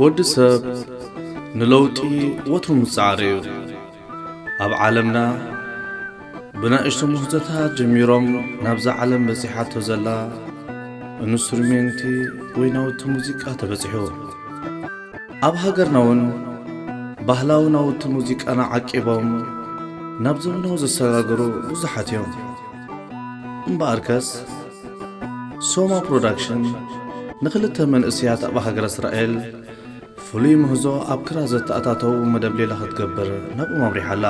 ወዲ ሰብ ንለውጢ ወትሩ ምጽዓር እዩ ኣብ ዓለምና ብናእሽቱ ምህዞታት ጀሚሮም ናብዛ ዓለም በጺሓቶ ዘላ እንስትሩሜንቲ ወይ ናውቲ ሙዚቃ ተበጺሑ። ኣብ ሃገርናውን ባህላዊ ናውቲ ሙዚቃና ዓቂቦም ናብ ዘመናዊ ዘሰጋገሩ ብዙሓት እዮም። እምበኣርከስ ሶማ ፕሮዳክሽን ንክልተ መንእሰያት ኣብ ሃገረ እስራኤል ፍሉይ ምህዞ ኣብ ክራ ዘተኣታተዉ መደብ ሌላ ክትገብር ናብኦም ኣምሪሓ ኣላ።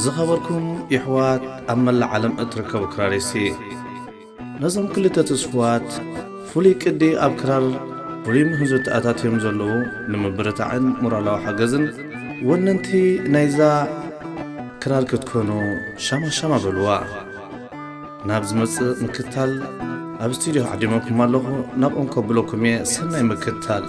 ዝኸበርኩም የሕዋት ኣብ መላእ ዓለም እትርከቡ ክራሪስቲ፣ ነዞም ክልተ ትስፉዋት ፍሉይ ቅዲ ኣብ ክራር ፍሉይ ምህዞ ተኣታትዮም ዘለዉ ንምብርታዕን ሞራላዊ ሓገዝን ወነንቲ ናይዛ ክራር ክትኮኑ ሻማ ሻማ በሉዋ። ናብ ዝመጽእ ምክታል ኣብ ስቱድዮ ዓዲመኩም ኣለኹ ናብ ኦንኮ ብሎኩም እየ ሰናይ ምክታል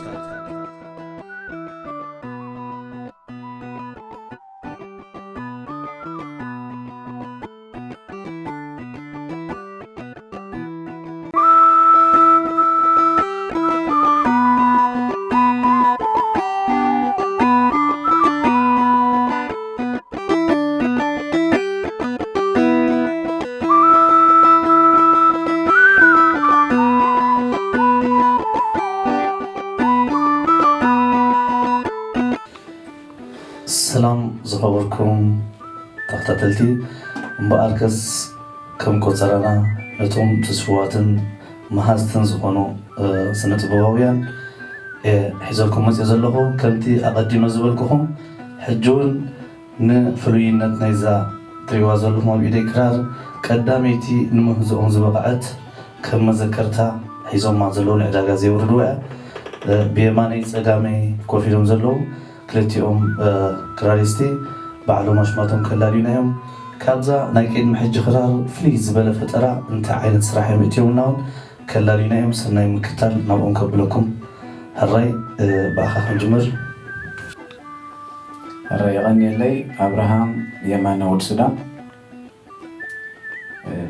ሰላም ዝኸበርኩም ተኸታተልቲ እምበኣርከስ ከም ቆፀራና ነቶም ትስፉዋትን መሃዝትን ዝኾኑ ስነ ጥበባውያን ሒዘልኩም መፅእ ዘለኹ ከምቲ ኣቐዲመ ዝበልኩኹም ሕጂ ውን ን ፍሉይነት ናይዛ ትሪእዋ ዘለኹም ኣብ ኢደይ ክራር ቀዳመይቲ ንምህዞኦም ዝበቐዐት ከም መዘከርታ ሒዞማ ዘለዉ ንዕዳጋ ዘየውርድዋ'ያ ብየማነይ ጸጋመይ ኮፍ ኢሎም ዘለዉ ክልቲኦም ክራሪስቲ ባዕሎም ኣሽማቶም ከላልዩና'ዮም ካብዛ ናይ ቅድሚ ሕጂ ክራር ፍልይ ዝበለ ፈጠራ እንታይ ዓይነት ስራሕ ዮም እትዮምና ውን ከላልዩና እዮም ሰናይ ምክታል ናብኦም ከብለኩም ሕራይ ብኣኻ ክንጅምር። ሕራይ የቐንየለይ ኣብርሃም የማነ ወድ ሱዳን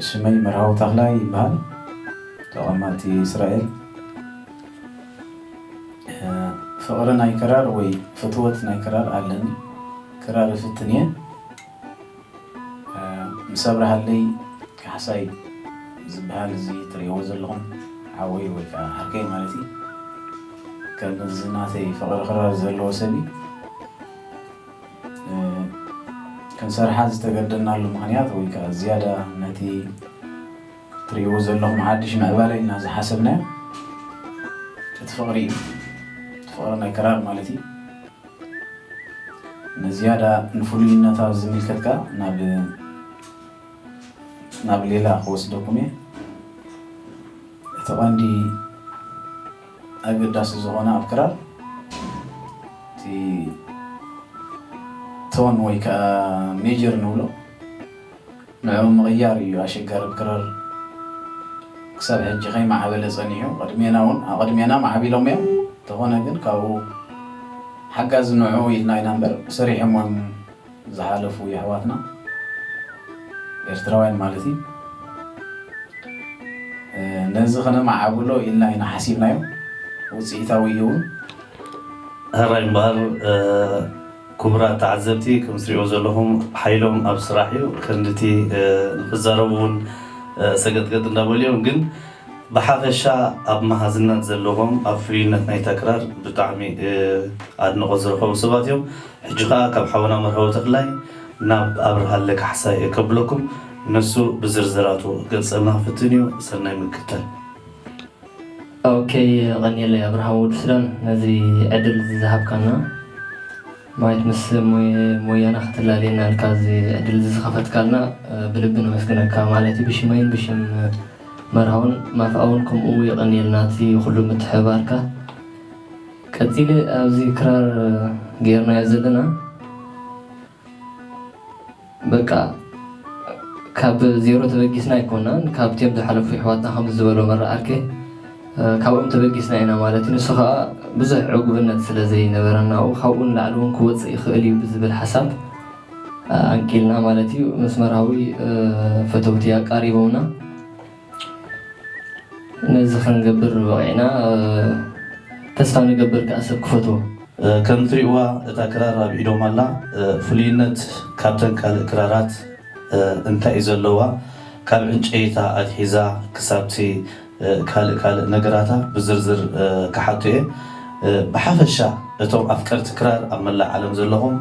ሽመይ መርሃዊ ተኽላይ ይበሃል ተቐማጢ እስራኤል ፍቕሪ ናይ ክራር ወይ ፍትወት ናይ ክራር ኣለኒ ክራር እፍትን እየ። ምስ ኣብርሃለይ ካሕሳይ ዝብሃል እዚ ትርእይዎ ዘለኹም ሓወይ ወይ ከኣ ዓርከይ ማለት እዩ ከም እዚ ናተይ ፍቕሪ ክራር ዘለዎ ሰብ እዩ ክንሰርሓ ዝተገደድናሉ ምኽንያት ወይ ከኣ ዝያዳ ነቲ ትርእይዎ ዘለኹም ሓድሽ ምዕባለ ኢልና ዝሓሰብናዮ እቲ ፍቕሪ እዩ እቲ ፍቕሪ ናይ ክራር ማለት እዩ ንዝያዳ ንፍሉይነታ ዝምልከት ከኣ ናብ ሌላ ክወስደኩም እየ። እቲ ቀንዲ ኣገዳሲ ዝኾነ ኣብ ክራር እቲ ቶን ወይ ከኣ ሜጀር ንብሎ ንዕኡ ምቕያር ኢዩ ኣሸጋሪ ብ ክረር ክሳብ ሕጂ ከይ ማዕበለ ጸኒሑ ቅድሜና ውን ኣቐድሜና ማዕቢሎም ኢዮም እንተኾነ ግን ካብኡ ሓጋዚ ንዕኡ ኢልና ኢና እምበር ሰሪሖሞም ዝሓለፉ የሕዋትና ኤርትራውያን ማለት ኢዩ ነዚ ክነማዓብሎ ኢልና ኢና ሓሲብናዮ ውጽኢታዊ ኢዩ ውን። ሕራይ እምበኣር ኩቡራት ተዓዘብቲ ከምትሪእዎ ዘለኹም ሓይሎም ኣብ ስራሕ እዩ ከንድቲ ንኽዛረቡ ውን ሰገጥገጥ እንዳበሉ እዮም ግን ብሓፈሻ ኣብ መሃዝነት ዘለዎም ኣብ ፍሉይነት ናይታ ክራር ብጣዕሚ ኣድንቖት ዝረኸቡ ሰባት እዮም ሕጂ ኸኣ ካብ ሓውና መርሃዊ ተኽላይ ናብ ኣብርሃለ ካሕሳይ እየ ከብለኩም ንሱ ብዝርዝራቱ ክገልጸልና ክፍትን እዩ ሰናይ ምክትታል። ኦከይ የቐንየለይ ኣብርሃም ወዲ ሱዳን ነዚ ዕድል እዚ ዝሃብካና ማይት ምስ ሞያና ክትላለየና ኢልካ እዚ ዕድል እዚ ዝኸፈትካልና ብልቢ ነመስግነካ ማለትይ ብሽመይን ብሽም መርሃውን ማፍኣውን ከምኡ የቐንየልና እቲ ኩሉ ምትሕብባርካ ቀጺለ ኣብዚ ክራር ገይርናዮ ዘለና በቃ ካብ ዜሮ ተበጊስና ኣይኮናን ካብትም ዝሓለፉ ይሕዋትና ከምዚ ዝበሎ መራ ኣርከ ካብኦም ተበጊስና ኢና ማለት እዩ ንሱ ከኣ ብዙሕ ዕጉብነት ስለ ዘይነበረና ካብኡ ንላዕሊ ውን ክወጽእ ይኽእል እዩ ብዝብል ሓሳብ ኣንቂልና ማለት እዩ መስመራዊ ፈተውቲ ኣቃሪቦምና ነዚ ክንገብር በቒዕና ተስፋ ንገብር ከኣ ሰብ ክፈትዎ። ከም ትሪእዋ እታ ክራር ኣብ ኢዶም ኣላ ፍሉይነት ካብተን ካልእ ክራራት እንታይ እዩ ዘለዋ ካብ ዕንጨይታ ኣትሒዛ ክሳብቲ ካልእ ካልእ ነገራታ ብዝርዝር ክሓቶ እየ ብሓፈሻ እቶም ኣፍቀርቲ ክራር ኣብ መላእ ዓለም ዘለኹም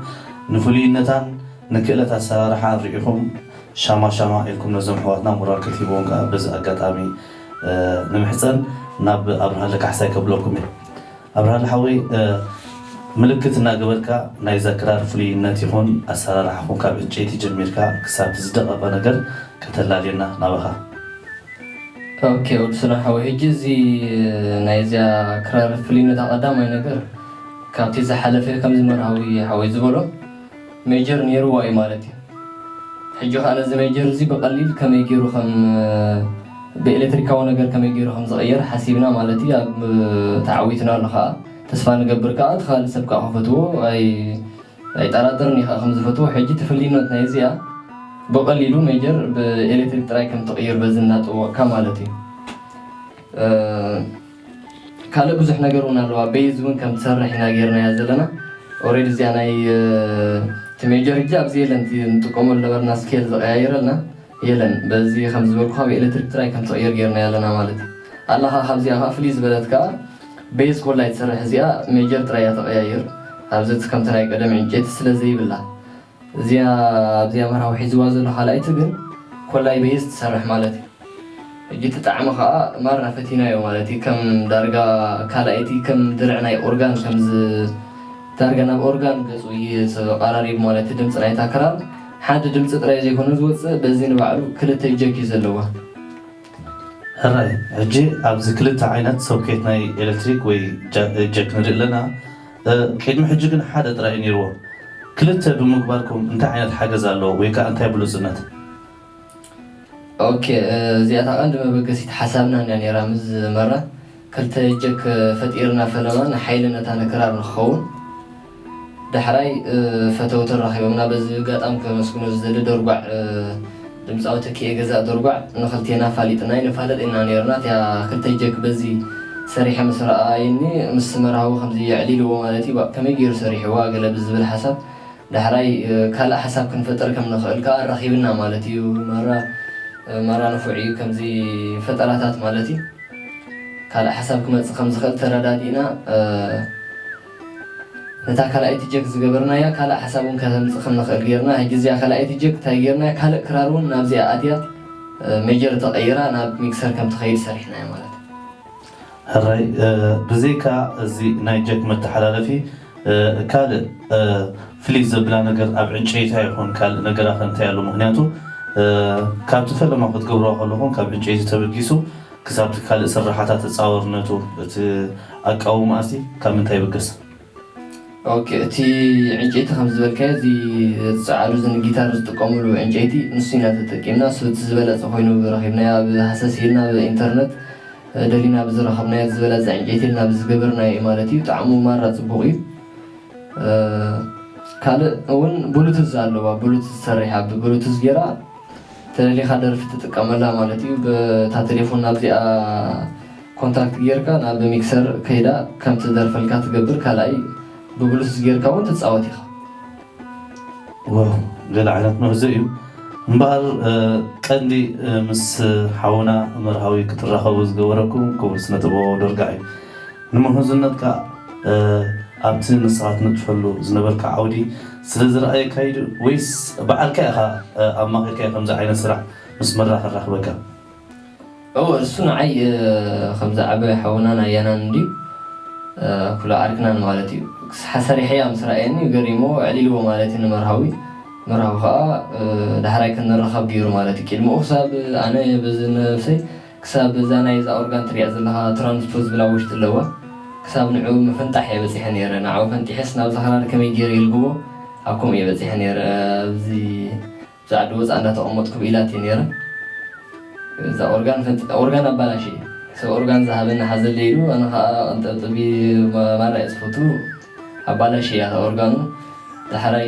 ንፍሉይነታን ንክእለት ኣሰራርሓ እንሪኢኹም ሻማ ሻማ ኢልኩም ነዞም ኣሕዋትና ሞራል ክትሂብዎም ከኣ በዚ ኣጋጣሚ ንምሕጸን ናብ ኣብርሃለ ካሕሳይ ከብለኩም እየ ኣብርሃለ ሓወይ ምልክት እናገበርካ ናይዛ ክራር ፍሉይነት ይኹን ኣሰራርሓኹም ካብ ዕንጨይቲ ጀሚርካ ክሳብቲ ዝደቐቐ ነገር ከተላልየና ናባኻ። ኦኬ ወዲ ሱዳን ሓወይ ሕጂ እዚ ናይ እዚኣ ክራር ፍልይነታ ቀዳማይ ነገር ካብቲ ዝሓለፈ ከምዚ መርሃዊ ሓወይ ዝበሎ፣ ሜጀር ኔርዋ እዩ ማለት እዩ ሕጂ ከኣ ነዚ ሜጀር እዚ ብቀሊል ከመይ ጌሩ ከም ብኤሌትሪካዊ ነገር ከመይ ጌሩ ከም ዝቅየር ሓሲብና ማለት እዩ ኣብ ተዓዊትናሉ ከኣ ተስፋ ንገብር ከኣ እቲ ካልእ ሰብ ከኣ ክፈትዎ ኣይ ኣይጠራጠርን እዩ ከኣ ከም ዝፈትዎ ሕጂ ትፍልይነት ናይ እዚኣ ብቀሊሉ ሜጀር ብኤሌትሪክ ጥራይ ከም ትቅይር በዚ እናጠወቅካ ማለት እዩ ካልእ ብዙሕ ነገር ውን ኣለዋ ቤዝ ውን ከም ትሰርሕ ኢና ጌርናያ ዘለና ኦሬዲ እዚኣ ናይ እቲ ሜጀር ሕጂ ኣብዚ የለን እቲ ንጥቀመሉ ነበርና ስኬል ዝቀያየረልና የለን በዚ ከም ዝበልኩካ ብኤሌክትሪክ ጥራይ ከም ትቅየር ጌርናያ ኣለና ማለት እዩ ኣላ ከኣ ካብዚኣ ከኣ ፍልይ ዝበለት ከኣ ቤዝ ኮላ እያ ትሰርሕ እዚኣ ሜጀር ጥራይ እያ ተቀያይር ኣብዚ እቲ ከምቲ ናይ ቀደም ዕንጨይቲ ስለ ዘይብላ እዚኣ ኣብዚ ኣምሃራዊ ሒዝዋ ዘሎ ካልኣይቲ ግን ኮላይ በይዝ ትሰርሕ ማለት እዩ ሕጂ እቲ ጣዕሚ ከኣ ማራ ፈቲናዮ ማለት እዩ ከም ዳርጋ ካልኣይቲ ከም ድርዒ ናይ ኦርጋን ከምዚ ዳርጋ ናብ ኦርጋን ገጹ እዩ ተቃራሪቡ ማለት እዩ ድምጺ ናይታ ክራር ሓዲ ድምጺ ጥራይ ዘይኮነ ዝወጽእ በዚ ንባዕሉ ክልተ ጀክ እዩ ዘለዋ ሕራይ ሕጂ ኣብዚ ክልተ ዓይነት ሶኬት ናይ ኤለክትሪክ ወይ ጀክ ንርኢ ኣለና። ቅድሚ ሕጂ ግን ሓደ ጥራይ እዩ ኔርዎ ክልተ ብምግባርኩም እንታይ ዓይነት ሓገዝ ኣለዎ ወይ ከኣ እንታይ ብሉጽነት። ኦኬ እዚኣታ ቀንዲ መበገሲት ሓሳብናን እያ ኔራ ምስ መራ ክልተ ጀክ ፈጢርና ፈለማ ንሓይሊ ነታ ንክራር ንክኸውን ዳሕራይ ፈተውቲ ኣራኺቦምና በዚ እጋጣም ከመስግኖ ዝደሊ ደርጓዕ ድምጻዊ ተኪኤ ገዛኢ ዶርጓዕ ንክልቴና ኣፋሊጥና ኣይንፋለጥ ኢና ኔርና እቲኣ ክልተ ጀክ በዚ ሰሪሐ ምስ ረኣይኒ ምስ መርሃዊ ከምዚ የዕሊልዎ ማለት እዩ ባእ ከመይ ጌሩ ሰሪሕዋ ገለ ብዝብል ሓሳብ ዳሕራይ ካልእ ሓሳብ ክንፈጥር ከም ንክእል ከኣ ኣራኪብና ማለት እዩ መራ መራ ንፉዕ እዩ ከምዚ ፈጠራታት ማለት እዩ ካልእ ሓሳብ ክመጽእ ከም ዝክእል ተረዳዲእና ነታ ካልኣይቲ ጀክ ዝገበርናያ ካልእ ሓሳብ ውን ከተምጽእ ከም ንኽእል ጌርና ሕጂ እዚኣ ካልኣይቲ ጀክ ታይ ጌርናያ ካልእ ክራር ውን ናብዚኣ ኣትያ ሜጀር ተቀይራ ናብ ሚክሰር ከም ትኸይድ ሰሪሕናያ ማለት እዩ። ሕራይ ብዘይካ እዚ ናይ ጀክ መተሓላለፊ ካልእ ፍልይ ዘብላ ነገር ኣብ ዕንጨይታ ይኹን ካልእ ነገራ ከ እንታይ ኣሎ ምኽንያቱ ካብቲ ፈለማ ክትገብርዋ ከለኹም ካብ ዕንጨይቲ ተበጊሱ ክሳብቲ ካልእ ስርሓታት ተጻዋርነቱ እቲ ኣቃውማ'ሲ ካብ ምንታይ ይብገስ? ኦኬ እቲ ዕንጨይቲ ከምዚ ዝበልካዮ እዚ ጸዓዱ እዚ ንጊታር ዝጥቀምሉ ዕንጨይቲ ንሱ ኢና ተጠቂምና እሱ እቲ ዝበለጸ ኮይኑ ረኺብናዮ ኣብ ሃሰስ ኢልና ኣብ ኢንተርነት ደሊና ብዝረኸብናዮ እቲ ዝበለጸ ዕንጨይቲ ኢልና ብዝገበርናዮ እዩ ማለት እዩ ጣዕሙ ማራ ጽቡቕ እዩ ካልእ ውን ብሉቱዝ ኣለዋ ብሉቱዝ ሰሪሓ ብብሉቱዝ ጌራ ተደሊኻ ደርፊ ትጥቀመላ ማለት እዩ ብታ ቴሌፎን ናብዚኣ ኮንታክት ጌርካ ናብ ሚክሰር ከይዳ ከም ትደርፈልካ ትገብር ካልኣይ ብብሉቱዝ ጌርካ ውን ትጻወት ኢኻ። ዋው ገለ ዓይነት ምህዞ እዩ እምበኣር ቀንዲ ምስ ሓውና መርሃዊ ክትራኸቡ ዝገበረኩም ክቡር ስነ ጥበባዊ ዶርጋ እዩ ንምሁዝነትካ ኣብቲ ንስኻ ትነጥፈሉ ዝነበርካ ዓውዲ ስለ ዝረኣየካ'ዩ ድዩ ወይስ ብዓልካ ኢኻ ኣማኺርካዮ ከምዚ ዓይነት ስራሕ ምስ መራ ከራኽበካ? እወ እሱ ንዓይ ከምዚ ዓቢ ሓውናን ኣያናን እንድዩ ክሎ ዓርክናን ማለት እዩ። ክሳዕ ሰሪሐያ ምስ ረኣየኒ ገሪምዎ ኣዕሊልዎ ማለት እዩ ንመርሃዊ። መርሃዊ ከኣ ዳሕራይ ክንራኸብ ገይሩ ማለት እዩ። ቅድሚኡ ክሳብ ኣነ በዚ ነብሰይ ክሳብ እዛ ናይ እዛ ኦርጋን ትሪኣ ዘለኻ ትራንስፖዝ ብላ ውሽጢ ኣለዋ ክሳብ ንዕኡ ምፍንጣሕ እየ በፂሐ ነይረ ንዓኡ ፈንጢሐስ ናብዛ ክራር ከመይ ገይረ ይልግቦ ኣብ ከምኡ እየ በፂሐ ነይረ ኣብዚ እዛ ዓዲ ወፃእ እንዳተቀመጥኩ ብኢላት እየ ነይረ እዛ ኦርጋን ፈንጢጠ ኦርጋን ኣባላሽየ ሰብ ኦርጋን ዝሃበኒ ሓዘለይ ኢሉ ኣነ ኻዓ ቀንጠብጥቢ ማራ እየ ዝፈቱ ኣባላሽያታ ኦርጋኑ ዳሕራይ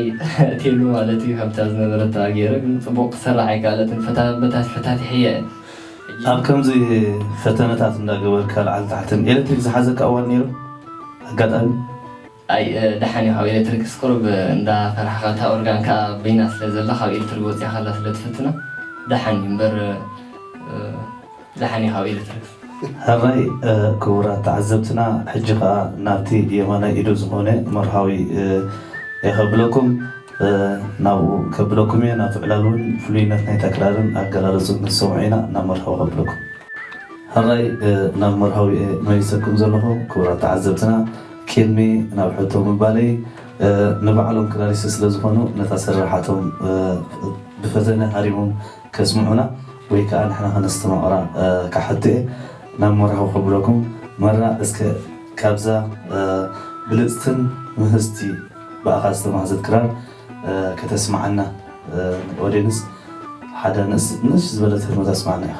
ቴሉ ማለት እዩ ካብታ ዝነበረታ ጌረ ግን ጽቡቕ ክትሰርሕ ኣይከኣለትን ፈታበታስ ፈታቲሐያ እየ ሕጂ ኣብ ከምዚ ፈተነታት እንዳገበርካ ላዕሊ ታሕትን ኤለትሪክ ዝሓዘካ እዋን ኔሩ ኣጋጣሚ? ኣይ ዳሓን እዩ ካብ ኤለትሪክስ ቁሩብ እንዳ ፈራሕካ እታ ኦርጋን ካኣ በይና ስለ ዘላ ካብ ኤልትርግ ወጺኻ ኣላ ስለ ትፍትና ዳሓን እዩ እምበር ደሓን ኢኻ ኣብ ኤለትሪክ። ሐራይ ክቡራት ተዓዘብትና ሕጂ ከኣ ናብቲ የማናይ ኢዱ ዝኾነ መርሃዊ እየ ከብለኩም ናብኡ ከብለኩም እየ ናቱ ዕላል ውን ፍሉይነት ናይታ ክራርን ኣገላልጹን ክንሰምዖ ኢና ናብ መርሃዊ ከብለኩም። ሐራይ ናብ መርሃዊ እየ መሊሰኩም ዘለኹ ክቡራት ተዓዘብትና ቂድሚ ናብ ሕቶ ምባለይ ንባዕሎም ክራሪስት ስለዝኾኑ ነታ ስርርሓቶም ብፈተነ ሃሪሞም ከስምዑና ወይ ከኣ ንሕና ከነስተማቅራ ክሓቱ እየ ናብ መራኹ ከብለኩም መራ እስከ ካብዛ ብልጽትን ምህዝቲ ብኣኻ ዝተማህዘት ክራር ከተስምዓና ን ኦዴንስ ሓዳ ንእስ ዝበለት ህርመት ኣስምዓና ኢኻ።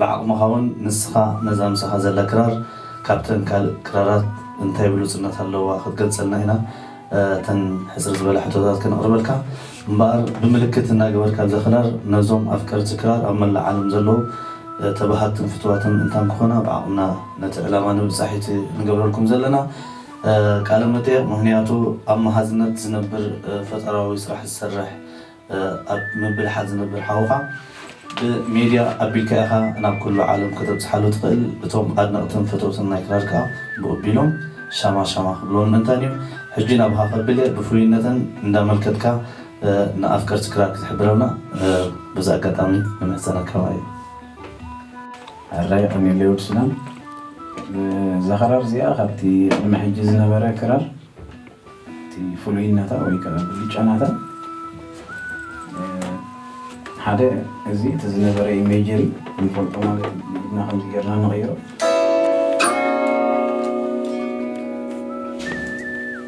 ብዓቅምኻ ውን ንስኻ ነዛ ምሳኻ ዘላ ክራር ካብተን ካልእ ክራራት እንታይ ብሉጽነት ኣለዋ ክትገልጸልና ኢና እተን ሕጽር ዝበላ ሕቶታት ከነቅርበልካ እምበኣር ብምልክት እናገበርካ ኣብዛ ክራር ነዞም ኣፍቀርቲ ክራር ኣብ መላእ ዓለም ዘለዉ ተባሃግትን ፍትዋትን እንታን ክኾና ብዓቅምና ነቲ ዕላማ ንምብጻሕ ኢቲ እንገብረልኩም ዘለና ቃለ መጠየቅ ምክንያቱ ኣብ መሃዝነት ዝነብር ፈጠራዊ ስራሕ ዝሰርሕ ኣብ ምብልሓት ዝነብር ሓውኻ ብሜድያ ኣቢልካ ኢኻ ናብ ኩሉ ዓለም ከተብጽሓሉ ትኽእል። እቶም ኣድነቕትን ፈተውትን ናይ ክራር ከኣ ብኡ ቢሎም ሻማ ሻማ ክብልዎ ንምእንታን እዩ። ሕጂ ናባኻ ከብል እየ ብፍሉይነተን እንዳመልከትካ ንኣፍቀርቲ ክራር ክትሕብረልና በዚ ኣጋጣሚ ንምሕጸነካ ማየ። ሕራይ የቐኔለይ ወድ ሱዳን። እዛ ክራር እዚኣ ካብቲ ቅድሚ ሕጂ ዝነበረ ክራር። እቲ ፍሉይነታ ወይ ከኣ ብልጫ ናታ ሓደ እዚ እቲ ዝነበረ ኢሜጀሪ ንፈልጦ ማለት እዩ ኢድና ከምዚ ጌርና ንቕይሮ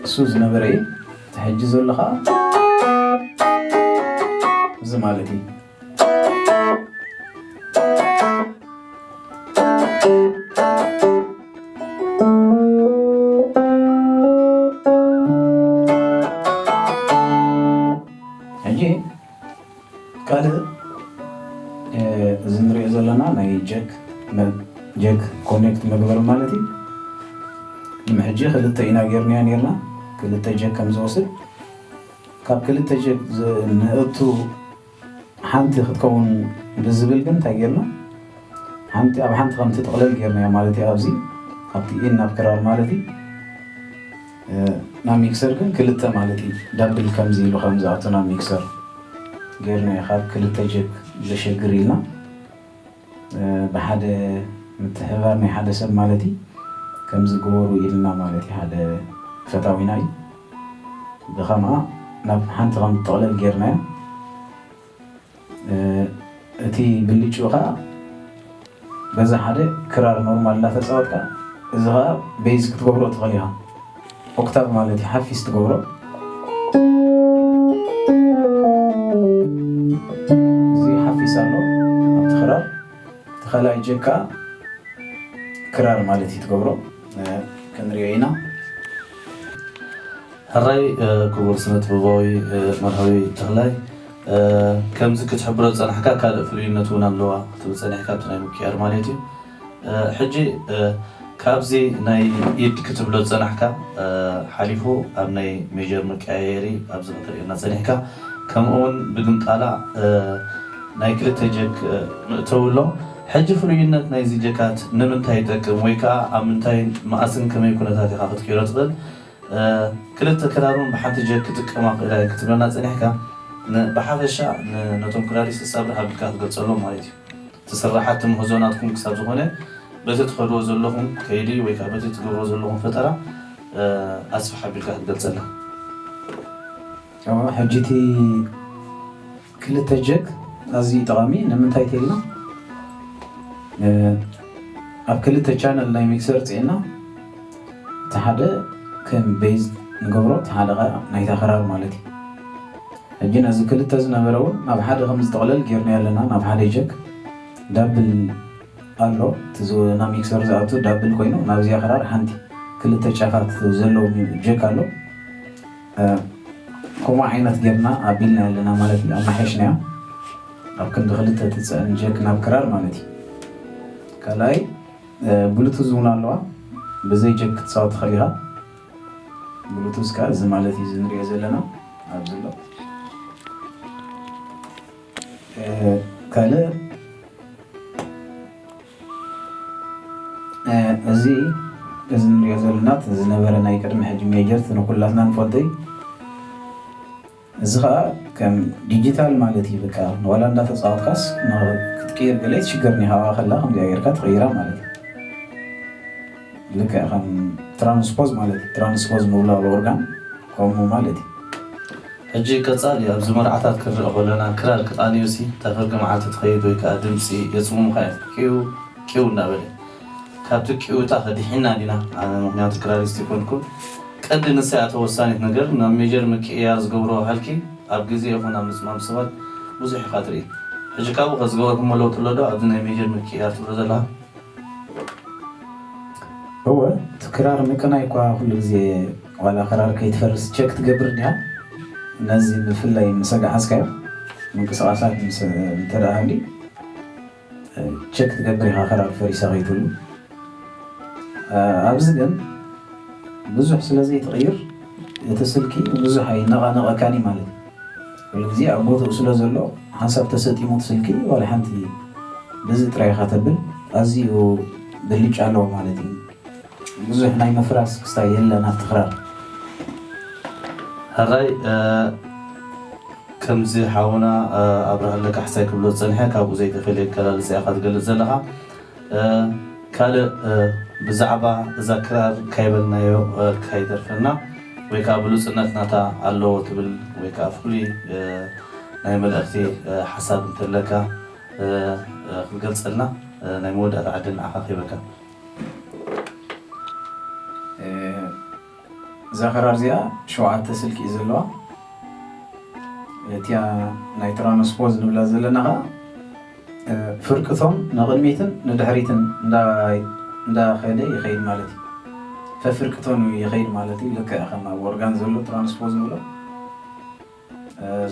እሱ ዝነበረ እዩ እቲ ሕጂ ዘሎ ኸዓ እዚ ማለት እዩ ሕጂ ካልእ እ፣ እዚ ንሪኦ ዘለና ናይ ጀክ መ- ጀክ ኮኔክት መግበሪ ማለት እዩ ንሕጂ ክልተ ኢና ጌርናዮ ኔርና ክልተ ጀክ ከም ዝወስድ ካብ ክልተ ጭብ ንእቱ ሓንቲ ክትከውን ብዝብል ግን እንታይ ጌርና ሓንቲ ኣብ ሓንቲ ከም ትጥቕለል ጌርናያ ማለት እዩ ኣብዚ ካብቲ ኢን ናብ ክራር ማለት እዩ ናብ ሚክሰር ግን ክልተ ማለት እዩ ዳብል ከምዚ ኢሉ ከም ዝኣቱ ናብ ሚክሰር ጌርናያ ካብ ክልተ ጀግ ዘሸግር ኢልና ብሓደ ምትሕብባር ናይ ሓደ ሰብ ማለት እዪ ከምዚ ግበሩ ኢልና ማለት እዪ ሓደ ፈታዊና እዪ ብከምኣ ናብ ሓንቲ ከም ትጥቅለል ገይርናያ እቲ ብልጭኡ ከኣ በዛ ሓደ ክራር ኖርማል እንዳተጻወትካ እዚ ከኣ ቤዝ ክትገብሮ ትክእል ኢካ። ኦክታቭ ማለት እዩ ሓፊስ ትገብሮ እዚ ሓፊስ ኣሎ ኣብቲ ክራር እቲ ካልኣይ ጀክ ከዓ ክራር ማለት እዩ ትገብሮ ክንሪኦ ኢና ሕራይ ክቡር ስነ ጥበባዊ መርሃዊ ተኽላይ ከምዚ ክትሕብሮ ዝፀናሕካ ካልእ ፍሉይነት እውን ኣለዋ ክትብል ፀኒሕካ ኣብቲ ናይ ምክያድ ማለት እዩ ሕጂ ካብዚ ናይ ኢድ ክትብሎ ዝጸናሕካ ሓሊፉ ኣብ ናይ ሜጀር መቀያየሪ ኣብዚ ከተርእየና ጸኒሕካ ከምኡ ውን ብግምጣላ ናይ ክልተ ጀክ መእተዊ ኣሎ ሕጂ ፍሉይነት ናይዚ ጀካት ንምንታይ ይጠቅም ወይ ከኣ ኣብ ምንታይን መኣስን ከመይ ኩነታት ኢኻ ክትቅይሮ ትኽእል ክልተ ክራር ውን ብሓንቲ ጀክ ክጥቀማ ክእላ እየን ክትብለና ጸኒሕካ ን ብሓፈሻ ን ነቶም ክራሪስት ሳብርሕ ኣቢልካ ትገልጸሎም ማለት እዩ እቲ ስራሓቲ ምህዞ ናትኩም ክሳብ ዝኾነ በቲ ትኸድዎ ዘለኹም ከይዲ ወይ ከኣ በቲ ትገብርዎ ዘለኹም ፈጠራ ኣስፍሕ ኣቢልካ ክትገልጸልና ሕጂ እቲ። ክልተ ጀክ ኣዝዩ ጠቓሚ ንምንታይ ተይልና ኣብ ክልተ ቻነል ናይ ሚክሰር ጽዒና እቲ ሓደ ከም ቤዝ ንገብሮ እቲ ሓደ ከኣ ናይታ ክራር ማለት እዩ ሕጂ ነዚ ክልተ ዝነበረ እውን ናብ ሓደ ከም ዝጥቕለል ጌርናዮ ኣለና ናብ ሓደ ጀክ ዳብል ኣሎ እቲ ናብ ሚክሰር ዝኣቱ ዳብል ኮይኑ ናብዚኣ ክራር ሓንቲ ክልተ ጫፋት ዘለዎ ጀክ ኣሎ ከምኡ ዓይነት ጌርና ኣቢልና ኣለና ማለት እዩ ኣማሓይሽናዮ ኣብ ክንዲ ክልተ ትፅዕን ጀክ ናብ ክራር ማለት እዩ ካልኣይ ብሉቱዝ እውን ኣለዋ ብዘይ ጀክ ክትፃወት ትኽእል ኢኻ ብሉቱዝ ከዓ እዚ ማለት እዩ እዚ ንሪኦ ዘለና ኣብዚ ኣሎ ካልእ እዚ እዚ ንሪኦ ዘለና ዝነበረ ናይ ቅድሚ ሕጂ ሜጀርት ንኩላትና ንፈልጦ እዩ። እዚ ከዓ ከም ዲጂታል ማለት እዩ። በቃ ዋላ እንዳተፃወትካስ ክትቅይር ገለ ኣይትሽገርን ኢኻ ኣብኣ ከላ ከምዚኣ ጌርካ ትቕይራ ማለት እዩ። ልክዕ ከም ትራንስፖዝ ማለት እዩ ትራንስፖዝ ምውላብ ኦርጋን ከምኡ ማለት እዩ ሕጂ ቀጻሊ ኣብዚ መርዓታት ክንርኢ ከሎና ክራር ክቃንዩሲ እታ ፍርቂ መዓልቲ ትኸይድ ወይ ከኣ ድምጺ የጽሙሙኻ እዮም ቂው ቂው እንዳበለ ካብቲ ቂውታ ከ ድሒንና ዲና ኣነ ምኽንያቱ ክራሪስት ኣይኮንኩን ቀንዲ ንሳ እያ ተወሳኒት ነገር ናብ ሜጀር ምቅይያር ዝገብርዎ ሃልኪ ኣብ ግዜ ይኹን ኣብ ምጽማም ሰባት ብዙሕ ኢኻ ትርኢ ሕጂ ካብኡ ከ ዝገበርኩሞ ለውጢ ኣሎ ዶ ኣብዚ ናይ ሜጀር ምቅይያር ትብሎ ዘለኻ እወ እቲ ክራር ምቅናይ እኳ ኩሉ ግዜ ዋላ ክራር ከይትፈርስ ቸክ ትገብር እንዲኻ ነዚ ብፍላይ ምሰ ገሓዝካዮ ምንቅስቃሳት ምሰ እንተ ሃልዩ ቸክ ትገብር ኢኻ ክራር ፈሪሳ ከይትብሉ ኣብዚ ግን ብዙሕ ስለ ዘይትቅይር እቲ ስልኪ ብዙሕ ኣይነቃነቀካን እዩ ማለት እዩ። ኩሉ ግዜ ኣብ ቦትኡ ስለ ዘሎ ሓንሳብ ተሰጢሙት ስልኪ ዋላ ሓንቲ በዚ ጥራይ ኢኻ ተብል ኣዝዩ ብልጫ ኣለዎ ማለት እዩ ብዙሕ ናይ ምፍራስ ክስታይ የለን ኣብቲ ክራር። ሕራይ ከምዚ ሓውና ኣብርሃለ ካሕሳይ ክብሎ ዝጸንሐ ካብኡ ዘይተፈልየ ኣገላልጻ ኢኻ ትገልጽ ዘለኻ። ካልእ ብዛዕባ እዛ ክራር ካይበልናዮ ካይተርፈና ወይ ከኣ ብሉጽነት ናታ ኣለዎ ትብል ወይ ከኣ ፍሉይ ናይ መልእኽቲ ሓሳብ እንተለካ ክትገልጸልና ናይ መወዳእታ ዕድል ንዓኻ ክህበካ። እዛ ክራር እዚኣ ሸውዓተ ስልኪ እዩ ዘለዋ እቲያ ናይ ትራንስፖዝ ንብላ ዘለና ከዓ ፍርቅቶም ንቕድሚትን ንድሕሪትን እንዳኸደ ይኸይድ ማለት እዩ ፈፍርቅቶን ይኸይድ ማለት እዩ ልክዕ ከም ኣብ ኦርጋን ዘሎ ትራንስፖዝ ንብሎ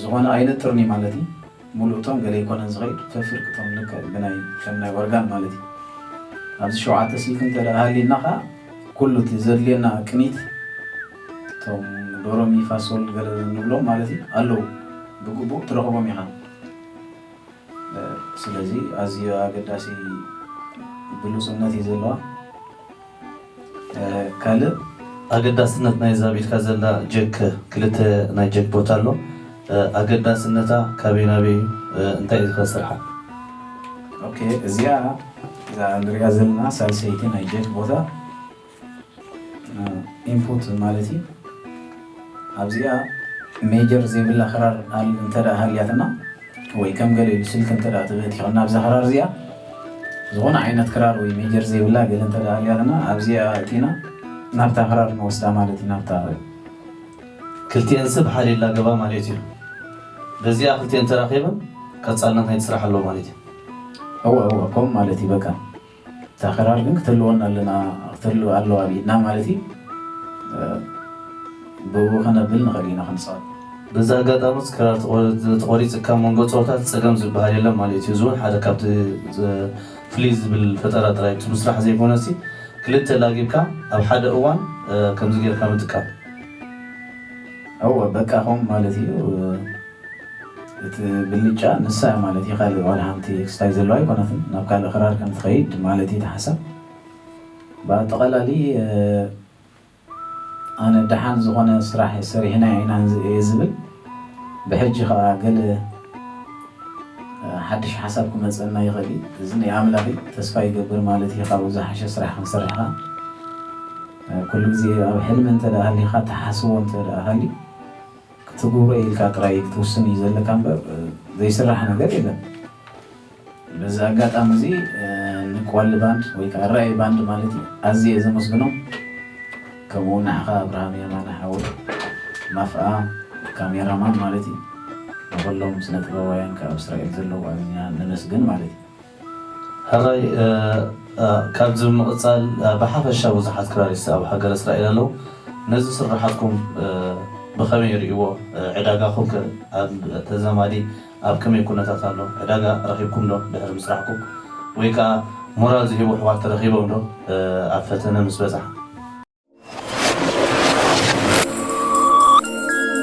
ዝኾነ ኣይነጥርን'ዩ ማለት እዩ። ሙሉእ ቶም ገለ ኣይኮነን ዝኸይድ ፈፍርቂ ቶም ልክዕ ብናይ ከም ናይ ኦርጋን ማለት እዩ። ኣብዚ ሸውዓተ ስልኪ እንተድኣ ሃልዩና ከኣ ኩሉ እቲ ዘድልየና ቅኒት ቶም ዶሮ ሚ ፋ ሶል ገለ ንብሎም ማለት እዩ ኣለዉ ብግቡእ ትረኽቦም ኢኻ። ስለዚ ኣዝዩ ኣገዳሲ ግሉጽነት እዩ ዘለዋ። ካልእ ኣገዳስነት ናይዛ ኣብ ኢድካ ዘላ ጀክ ክልተ ናይ ጀክ ቦታ ኣሎ ኣገዳስነታ ካበይ ናበይ እዩ እንታይ እዩ ከስርሓ። ኦኬ እዚኣ እዛ ንሪኣ ዘለና ሳልሰይቲ ናይ ጀክ ቦታ ኢንፑት ማለት እዩ። ኣብዚኣ ሜጀር ዘይብላ ክራር እንተ ሃልያትና ወይ ከም ገለ ኢሉ ስልኪ እንተ ተበቲኹ ናብዛ ክራር እዚኣ ዝኾነ ዓይነት ክራር ወይ ሜጀር ዘይብላ ገለ እንተ ሃልያትና ኣብዚኣ ኣእቲና ናብታ ክራር ንወስዳ ማለት እዩ ናብታ ክልቲኤን ስብ ሓደ ኢላ ገባ ማለት እዩ በዚኣ ክልቲኤን ተራኺበን ቀጻልነት ናይቲ ስራሕ ኣሎ ማለት እዩ። እወ እወ ከምኡ ማለት እዩ በቃ። እታ ክራር ግን ክተልወና ኣለና ክተልው ኣለዋ ኣብ ኢድና ማለት እዩ ብእኡ ከነብል ንኽእል ኢና ክንፃወት በዚ ኣጋጣሚ ክራር ተቖሪፅካ ኣብ መንጎ ፀወታት ፀገም ዝበሃል የለን ማለት እዩ እዚ እውን ሓደ ካብቲ ፍልይ ዝብል ፈጠራ ጥራይ እቲ ምስራሕ ዘይኮነሲ ክልተ ላጊብካ ኣብ ሓደ እዋን ከምዚ ጌርካ ምጥቃም እወ በቃ ከምኡ ማለት እዩ። እቲ ብልጫ ንሳ እያ ማለት እዩ ካልእ ዋላ ሓንቲ ኤክስታይ ዘለዋ ኣይኮነትን ናብ ካልእ ክራር ከም ትኸይድ ማለት እዩ እቲ ሓሳብ ብኣጠቓላሊ ኣነ ደሓን ዝኾነ ስራሕ ሰሪሕና ኢና እየ ዝብል ብሕጂ ከኣ ገለ ሓድሽ ሓሳብ ክመጸና ይኽእል እዩ እዚ ናይ ኣምላኽ እዩ ተስፋ ይገብር ማለት እዩ ካብኡ ዝሓሸ ስራሕ ክንሰርሕ ከኣ ኩሉ ግዜ ኣብ ሕልሚ እንተ ሃሊኻ ትሓስቦ እንተ ሃልዩ ክትግብሮ እየ ኢልካ ጥራይ ክትውስን እዩ ዘለካ እምበር ዘይስራሕ ነገር የለን። በዚ ኣጋጣሚ እዚ ንቆዋሊ ባንድ ወይ ከዓ ራእይ ባንድ ማለት እዩ ኣዝየ እየ ዘመስግኖም ከምኡ እውን ንዓኻ ኣብርሃም የማነ ሓወይ ማፍኣ ካሜራ ማን ማለት እዩ ንኹሎም ስነ ጥበባውያን ካብ እስራኤል ዘለዉ ኣዚና ነመስግን ማለት እዩ። ሕራይ ካብዚ ብምቅጻል ብሓፈሻ ብዙሓት ክራሪስት ኣብ ሃገረ እስራኤል ኣለዉ ነዚ ስርሓትኩም ብከመይ ይሪእዎ ዕዳጋኩም ከ ኣብ ተዛማዲ ኣብ ከመይ ኩነታት ኣሎ ዕዳጋ ረኪብኩም ዶ ድሕሪ ምስራሕኩም ወይ ከኣ ሞራል ዝህቡ ኣሕዋት ተረኪቦም ዶ ኣብ ፈተነ ምስ በጻሕኩም።